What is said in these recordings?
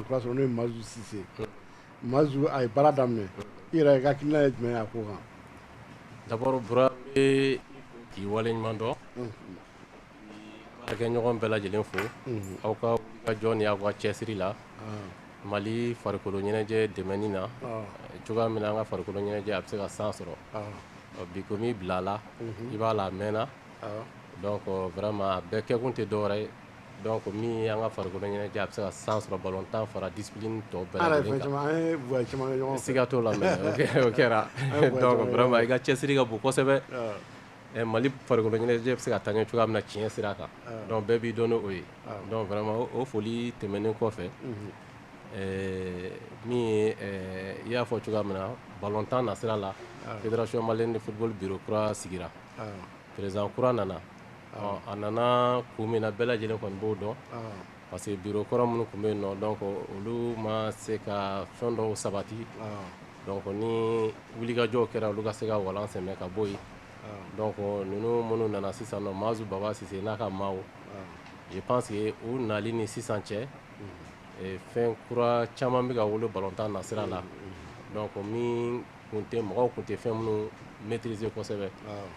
sɔrɔ n'o ye Mazu Sise Mazu a ye baara daminɛ i yɛrɛ i ka hakilina ye jumɛn ye a ko kan d'abord Bura n bɛ k'i waleɲuman dɔn baarakɛɲɔgɔn bɛɛ lajɛlen fo aw ka wulikajɔ ni aw ka cɛsiri la mali farikolo ɲɛnajɛ dɛmɛni na cogoya min na an ka farikolo ɲɛnajɛ a bɛ se ka san sɔrɔ bi komi i bila la i b'a la a mɛnna donc vraiment a bɛɛ kɛkun tɛ dɔwɛrɛ ye Dɔw ko min an ka farikolo ɲɛna a bɛ se ka san sɔrɔ balo tan fara di tɔ siiga t'o la kɛra i ka cɛsiri ka bon kosɛbɛ mali farikolo ɲ bɛ se ka taa ɲɛ cogoya min na tiɲɛɲɛ sira a kan dɔn bɛɛ b'i dɔn o ye dɔnma o foli tɛmɛnen kɔfɛ min i y'a fɔ cogoya min na balo tan na sira la i soma ni furu bi kura sigira Président kura nana a nana kun min na bɛɛ lajɛlen kɔni b'o dɔn parce que bureau kɔrɔ minnu tun bɛ yen nɔ donc olu ma se ka fɛn dɔw sabati donc ni wulikajɔw kɛra olu ka se ka walan sɛmɛ ka bɔ yen donc ninnu minnu nana sisan nɔ Mazu Baba Sise n'a ka maaw je pense que u nali ni sisan cɛ fɛn kura caman bɛ ka wolo balontan nasira la min mɔgɔw kun tɛ fɛn minnu maitriser kosɛbɛ, awɔ,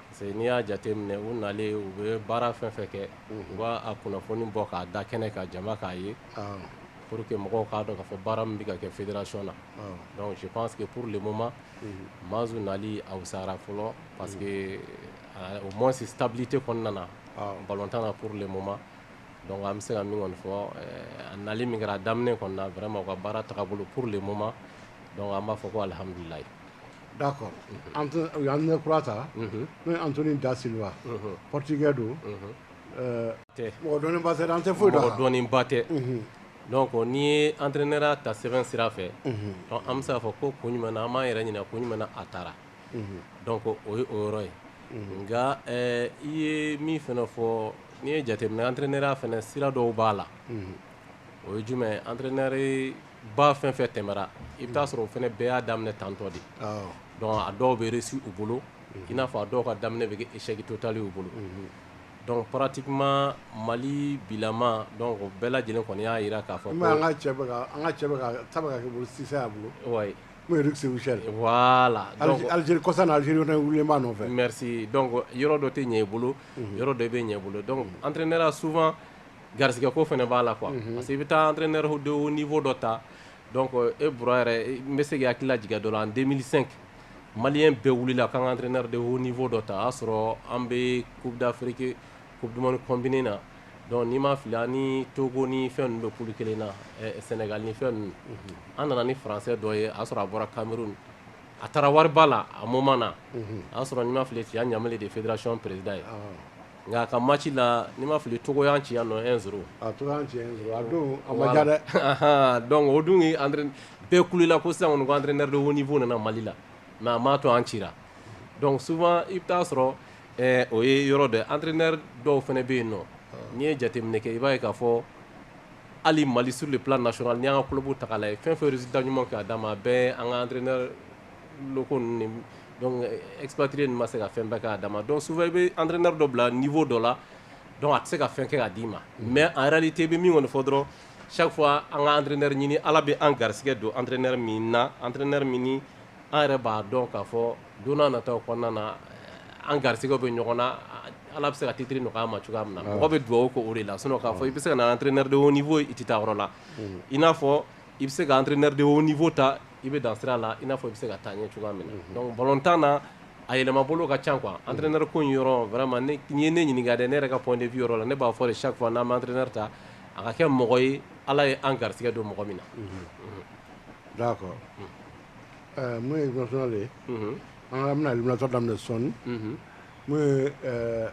parce que n'i y'a jateminɛ u nalen u bɛ baara fɛn fɛn kɛ u b'a kunnafoni bɔ k'a da kɛnɛ kan jama k'a ye, awɔ, pour que mɔgɔw k'a dɔn k'a fɔ baara min bɛ ka kɛ fédération na, awɔ, donc je pense que pour le moment Mazu nali a wusara fɔlɔ parce que au moins stabilité kɔni nana balontan na pour le moment donc an bɛ se ka min kɔni fɔ a nali min kɛra a daminɛ kɔni na vraiment u ka baara tagabolo pour le moment Dɔnku an b'a fɔ ko alihamdulila da kɔrɔ an ne kura ta n'o an ni da seliwa pɔtikɛ don mɔgɔdɔnba an tɛ foyi dɔn ba tɛ dɔn n'i ye an ne ta sɛbɛn sira fɛ an bɛ se' fɔ ko ko ɲuman an b'a yɛrɛ ɲini ko ɲuman a taara dɔn ko o ye o yɔrɔ ye nka i ye min fana fɔ n'i ye jate an ne fana sira dɔw b'a la o ye jumɛn an ba fɛn fɛn tɛmɛna i bɛ'a sɔrɔ o fana bɛɛ y'a daminɛ tantɔ de a dɔw bɛ su u bolo i n'a fɔ a dɔw ka daminɛ bɛ esɛgi to tali u bolo dɔnku pati ma mali bilama o bɛɛ lajɛlen kɔni y'a jira k'a fɔ bolo aliz kɔsa aliz wililenba nɔfɛ yɔrɔ dɔ tɛ ɲɛ i bolo yɔrɔ dɔ bɛ ɲɛ bolo an tɛ ne sufa garigɛ ko fana b'a la qu parce i bɛ taa n ne don ni fɔ dɔ ta e b yɛrɛ n bɛ se ka hakili lajɛjɛ dɔ la an denmisɛn sen mali bɛɛ wili la k'an ka n de o ni fɔ dɔ ta y'a sɔrɔ an bɛ kubidafeke ko duman kɔnb na dɔnku nii ma fili ni togo ni fɛn bɛ kulu kelen na sɛnɛga ni fɛn an nana ni faransɛ dɔ ye a sɔrɔ a bɔra kanmuru a taara wari la a ma na a y'a sɔrɔ n ma fili cɛya ɲa de fɛdasiɔn pereirida ye Nka a ka mati la ni ma fili togo ci yan nɔ e sɔrɔ a to ci a don a ma dɛ dɔnku o dun bɛɛ kula ko sisan ko anre nere don fo nana mali la mɛ a ma to an ci dɔnku sufa i bɛ'a sɔrɔ o ye yɔrɔ dɛ anre nere dɔw fana bɛ yen nɔ n'i ye jateminɛ kɛ i b'a ye k'a fɔ hali mali suru de plasɔrɔ n' y'an ka kulu ta la ye fɛn fɛ da ɲuman k'a d'a ma bɛɛ an ka anre ko epti ma se ka fɛn bɛɛ k'a da ma dɔn sufɛ i bɛ anrina dɔ bila nifo dɔ la a tɛ se ka fɛn kɛ k'a d'i ma mɛ a yɛrɛ te bɛ min kɔni fɔ dɔrɔn sa fɔ an ka anrɛ ɲini ala bɛ an garisɛgɛ don anr na anr min an yɛrɛ b'a dɔn k'a fɔ don na taa kɔnɔna na an garisɛgɛ bɛ ɲɔgɔn na ala bɛ se ka titiriri nɔgɔya ma cogoya min na mɔgɔ bɛ dugawu ko o de la so'a fɔ i bɛ se ka anrɛnɛnenɛ de fɔ i tɛ taa yɔrɔ la i n'a fɔ i bɛ se ka anrɛnɛnenɛ de fɔ ta i bɛ dan sira la i n'a fɔ i bɛ se ka taa ɲɛ cogoya min na donc balontan na a yɛlɛma bolo ka ca quoi entraîneur ko in yɔrɔ vraiment n'i ye ne ɲininka dɛ ne yɛrɛ ka point de vue yɔrɔ la ne b'a fɔ de chaque fois n'an bɛ entraîneur ta a ka kɛ mɔgɔ ye Ala ye an garisigɛ don mɔgɔ min na. D'accord ɛɛ mun ye national ye. Unhun. An ka an bɛna éliminatoire daminɛ sɔɔni. Unhun. Mun ye ɛɛ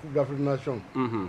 coupe d'Afrique des nations. Unhun.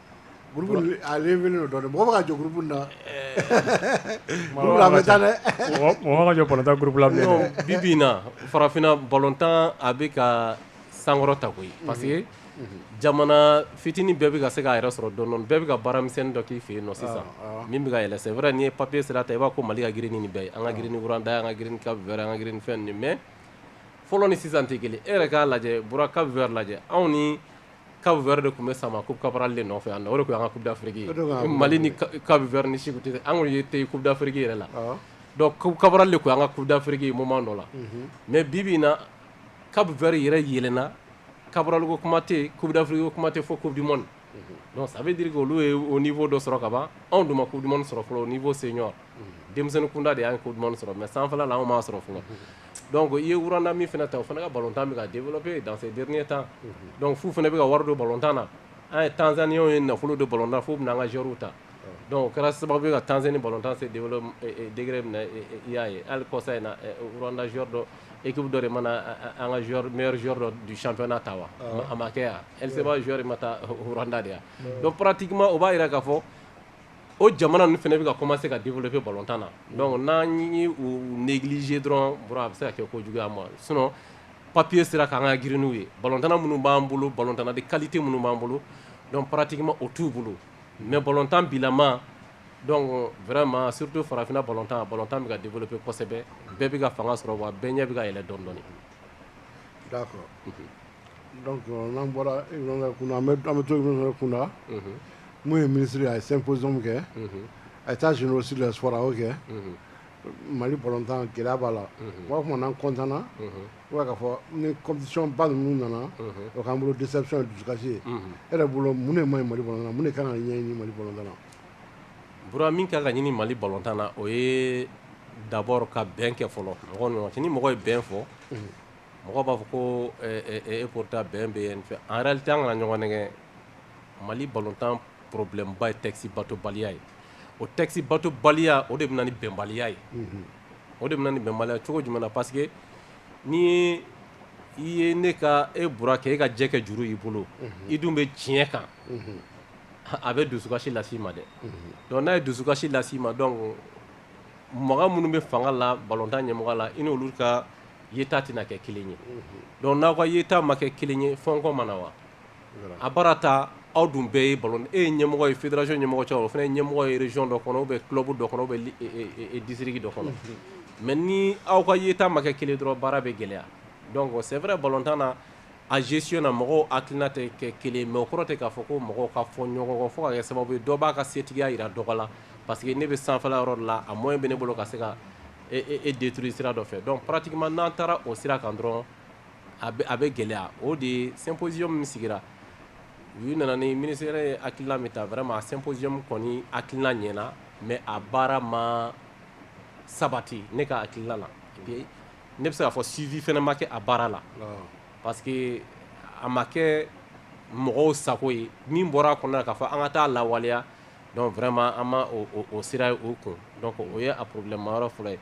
Groupe nin a relevélen don dɔɔni mɔgɔ bɛ ka jɔn groupe in na groupe la a bɛ taa dɛ mɔgɔ man ka jɔn balontan groupe la bilen dɛ bi bi in na farafinna balontan a bɛ ka sankɔrɔta koyi parce que jamana fitini bɛɛ bɛ ka se k'a yɛrɛ sɔrɔ dɔɔni dɔɔni bɛɛ bɛ ka baara misɛnnin dɔ k'i fɛ yen nɔ sisan min bɛ ka yɛlɛ c'est vrai n'i ye papier sira ta i b'a fɔ ko Mali ka girin ni nin bɛɛ ye an ka girin ni Rwanda ye an ka girin ni Cap Vert ye an ka girin ni fɛn ninnu ye mais fɔlɔ ni sisan tɛ kelen ye e yɛrɛ k'a lajɛ Bura Cap Vert lajɛ anw ni ka wɛrɛ de tun bɛ sama ko kara de nɔfɛ yan o de an ka dafiri mali ni ka wɛrɛ ni segu tɛ an ye te ku dafiriki yɛrɛ la kara de ko an ka ku dafiriki ma dɔ la mɛ bi bɛ na ka wɛrɛ yɛrɛ yɛlɛna kabaliko kuma tɛ ku dafiri kuma tɛ fɔ ko dimani sabu di olu ye o ni fɔ dɔ sɔrɔ kaban anw dun ma ku duman sɔrɔ fɔlɔ o ni fɔ sen ɲɔgɔn denmisɛnnin kunda de y'a ko duman sɔrɔ mɛ sanfɛ la anw m'a sɔrɔ fɔlɔ dɔnku ko i ye wda min fana ta o fana ka balo tan min ka den bolo bɛ danfe den tan dɔnku fu fana bɛ ka wari don balo tan na an ye tanzani ye nafolo don balo tan fo bɛ an ka zw ta o kɛra sababu bɛ ka tanzsen ni balo tanse dgɛrɛ minɛ i y'a ye ali kɔsa in wda z dɔ eki dɔ de mana an ka dɔ ducfɛnna ta wa a ma kɛ yan e se'zyoɔri ma taa hda de yan dɔn patima o b'a jira ka fɔ o jamana ninnu fana bɛ ka commencer ka développer balontan na donc n'an ye u négliger dɔrɔn Bura a bɛ se ka kɛ ko jugu y'an ma sinon papier sira kan an ka girin n'u ye balontanna minnu b'an bolo balontanna de qualité minnu b'an bolo donc pratiquement o t'u bolo mais balontan bilama donc vraiment surtout farafinna balontan balontan bɛ ka développer kosɛbɛ bɛɛ bɛ ka fanga sɔrɔ wa bɛɛ ɲɛ bɛ ka yɛlɛ dɔɔnin dɔɔnin d'accord Donc n'an bɔra Ibrahima Fomba an bɛ to Ibrahima Fomba la, unhun, min ye ministre ye a ye symposium kɛ, unhun, états généraux sur les sports a y'o kɛ, unhun, Mali balontan gɛlɛya b'a la, unhun, bon o tuma na an content na, unhun, i b'a ye k'a fɔ ni compétition ba ninnu nana, unhun, o k'an bolo déception ye dusukasi ye, unhun, e yɛrɛ bolo mun de man ɲi Mali balontan na mun de ka kan ka ɲɛɲini Mali balontan na? Bura min ka kan ka ɲini Mali balontan na o ye d'abord ka bɛn kɛ fɔlɔ mɔgɔw ni ɲɔgɔn cɛ ni mɔgɔ ye bɛn fɔ, unhun mɔgɔ b'a fɔ ko e pourtant bɛn bɛ yen en réalité an kana ɲɔgɔn nɛgɛn Mali balontan problème ba ye texte batobaliya ye o texte batobaliya o de bɛ na ni bɛnbaliya ye o de bɛ na ni bɛnbaliya cogo jumɛn na parce que ni i ye ne ka e Bura kɛ e ka jɛ kɛ juru y'i bolo i dun bɛ tiɲɛ kan a bɛ dusukasi las'i ma dɛ donc n'a ye dusukasi las'i ma donc mɔgɔ minnu bɛ fanga la balontan ɲɛmɔgɔ la i ni olu ka yeta tɛna kɛ kelen ye donc n'aw ka yeta ma kɛ kelen ye fɔɲɔgɔnkɔ ma na wa a baara ta aw dun bɛɛ ye ballon e ye ɲɛmɔgɔ ye fédération ɲɛmɔgɔ cɛ o fana ye ɲɛmɔgɔ ye région dɔ kɔnɔ ou bien club dɔ kɔnɔ ou bien district dɔ kɔnɔ mais ni aw ka yeta ma kɛ kelen dɔrɔn baara bɛ gɛlɛya donc c'est vrai balontan na a gestion na mɔgɔw hakilina tɛ kɛ kelen mais o kɔrɔ tɛ k'a fɔ ko mɔgɔw ka fɔ ɲɔgɔn kɔ fo ka kɛ sababu ye dɔ b'a ka setigiya jira dɔgɔ la parce que ne bɛ sanfɛla yɔrɔ de la a moyen bɛ ne bolo ka se ka e détruire sira dɔ fɛ donc pratiquement n'an taara o sira kan dɔrɔn a bɛ gɛlɛya o de ye symposium min sigira u nana ni ministère ye hakilina min ta vraiment a symposium kɔni hakilina ɲɛna mais a baara ma sabati ne ka hakilina la ne bɛ se k'a fɔ suivi fana ma kɛ a baara la parce que a ma kɛ mɔgɔw sago ye min bɔra a kɔnɔ k'a fɔ an ka t'a lawaleya donc vraiment an ma o sira ye o kun donc o ye a problème ma yɔrɔ fɔlɔ ye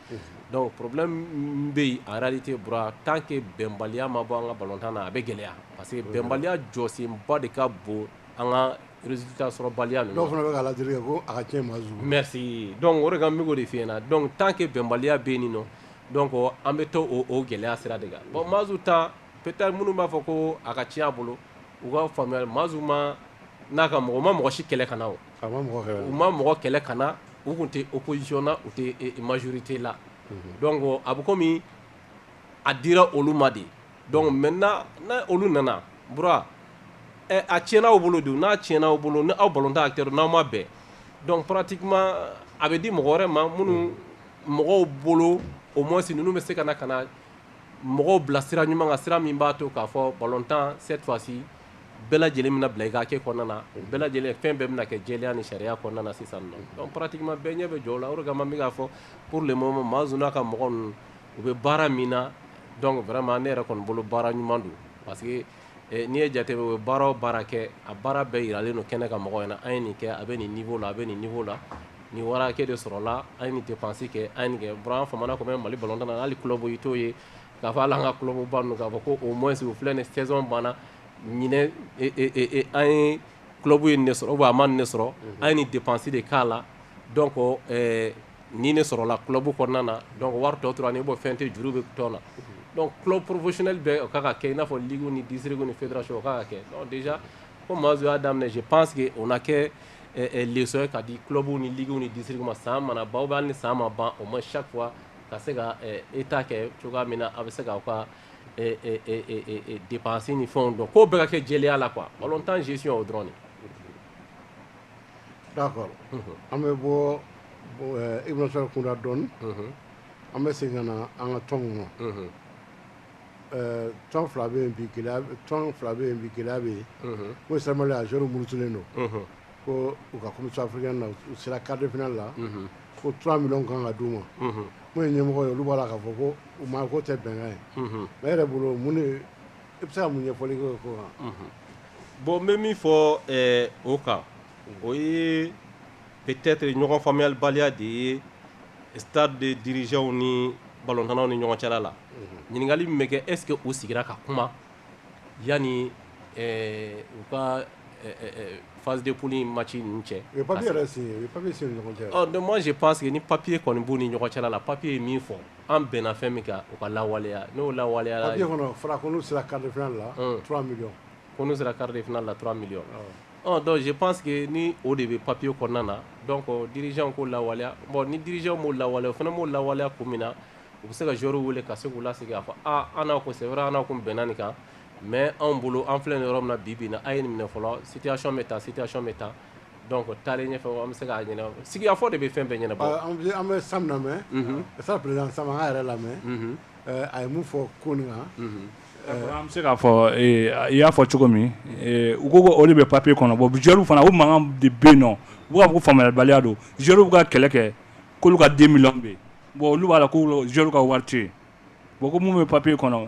donc problème bɛ yen en réalité Bura tant que bɛnbaliya ma bɔ an ka balontan na a bɛ gɛlɛya parce que bɛnbaliya jɔsenba de ka bon an ka résultat sɔrɔbaliya dɔw fana bɛ ala deli ko a ka tiɲɛ ma merci donc o de kan n bɛ k'o de f'i ɲɛna donc tant que bɛnbaliya bɛ nin nɔ donc an bɛ to o gɛlɛya sira de kan bon Mazu ta peut-être minnu b'a fɔ ko a ka tiɲɛ a bolo u ka faamuya Mazu ma n'a ka mɔgɔw ma mɔgɔ si kɛlɛ ka na u ma mɔgɔ kɛlɛ ka na u tun tɛ opposition na u tɛ majorité la donc a bɛ komi a dira olu ma de donc maintenant n'olu nana Bura a tiɲɛna aw bolo de n'a tiɲɛna aw bolo n'aw balontan acteur n'aw ma bɛn donc pratiquement a bɛ di mɔgɔ wɛrɛ ma minnu mɔgɔw bolo au moins ninnu bɛ se ka na ka na mɔgɔw bila sira ɲuman kan sira min b'a to k'a fɔ balontan cette fois-ci bɛɛ lajɛlen bɛna bila i k'a kɛ kɔnɔna na o bɛɛ lajɛlen fɛn bɛɛ bɛna kɛ jɛlenya ni sariya kɔnɔna na sisan nɔ donc pratiquement bɛɛ ɲɛ bɛ jɔ o la o de kama n bɛ k'a fɔ pour le moment Mazu n'a ka mɔgɔ ninnu u bɛ baara min na donc vraiment ne yɛrɛ kɔni bolo baara ɲuman don parce N'i ye jate u ye baara o baara kɛ a baara bɛɛ jiralen don kɛnɛ kan mɔgɔw ɲɛna an ye nin kɛ a bɛ nin niveau la a bɛ nin niveau la nin wari hakɛ de sɔrɔla an ye nin dépense kɛ an ye nin kɛ Bura an famana komi Mali balontan na hali club i t'o ye k'a fɔ hali an ka club ba ninnu k'a fɔ ko au moins u filɛ nin saison banna ɲinan an ye club ye nin de sɔrɔ a ma nin de sɔrɔ an ye nin dépense de k'a la donc Nin de sɔrɔla club kɔnɔna na donc wari tɔ tora ne bɔ fɛn tɛ juru bɛ tɔn na donc club professionnel bɛɛ o ka kan ka kɛ i n'a fɔ ligue ni district ni fédération o ka kan ka kɛ donc déjà comme Mazu y'a daminɛ je pense que o na kɛ leçon ye ka di club ni ligue ni district ma san mana ban ou bien hali ni san ma ban au moins chaque fois ka se ka état kɛ cogoya min na a bɛ se k'aw ka dépenses ni fɛnw dɔn k'o bɛɛ ka kɛ jɛlenya la quoi ballon tan gestion o dɔrɔn de. D'a kɔrɔ an bɛ bɔ i bɛ sɔrɔ kunda dɔn an bɛ segin ka na an ka tɔn ma tɔn fila bɛ tɔn fila bɛ yen bi gɛlɛya bɛ yen ko sa a s muruurutilen don ko u ka kɔmi saf na u sera kadif la ko tura min kan ka d u ma ko ye ɲɛmɔgɔ ye olu b'a la k ka fɔ ko u ma ko tɛ bɛnkan ye ne yɛrɛ bolo mun I bɛ se ka mun ɲɛfɔli kɛ o ko kan bon n bɛ min fɔ o kan o ye peut-être ɲɔgɔn faamuyabaliya de ye Stade dirigeantw ni balontannaw ni ɲɔgɔn cɛla la ɲininkali min bɛ kɛ est-ce que u sigira ka kuma yanni u ka phase de poule match ninnu cɛ moi je pense que ni papier kɔni b'u ni ɲɔgɔn cɛla la papier ye min fɔ An bɛnna fɛn min kan o ka lawaleya n'o lawaleyara papier kɔnɔ fɔra ko n'u sera quart de finale la 3 millions ko n'u sera quart de finale la 3 millions ɔ donc je pense que ni o de bɛ papier kɔnɔna na donc dirigeants k'o lawaleya bon ni dirigeants m'o lawaleya o fana m'o lawaleya kun min na u bɛ se ka joueurs wele ka se k'u lasigi k'a fɔ aa an n'a kun c'est vrai an n'a kun bɛnna nin kan mais anw bolo an filɛ nin yɔrɔ min na bi-bi in na a' ye nin minɛ fɔlɔ situation bɛ tan situation bɛ tan Donc taalen ɲɛfɛ an bɛ se k'a ɲɛnabɔ sigikafɔ de bɛ fɛn bɛɛ ɲɛnabɔ an bɛ Sam lamɛn sa président Sam an k'a yɛrɛ lamɛn a ye mun fɔ ko nin kan an bɛ se k'a fɔ i y'a fɔ cogo min u ko o de bɛ papier kɔnɔ bon joueurs fana o mankan de bɛ nɔ u b'a fɔ ko faamuyabaliya don joueurs bɛ ka kɛlɛ kɛ k'olu ka 2 millions bɛ yen bon olu b'a la ko joueurs ka wari tɛ yen bon ko mun bɛ papier kɔnɔ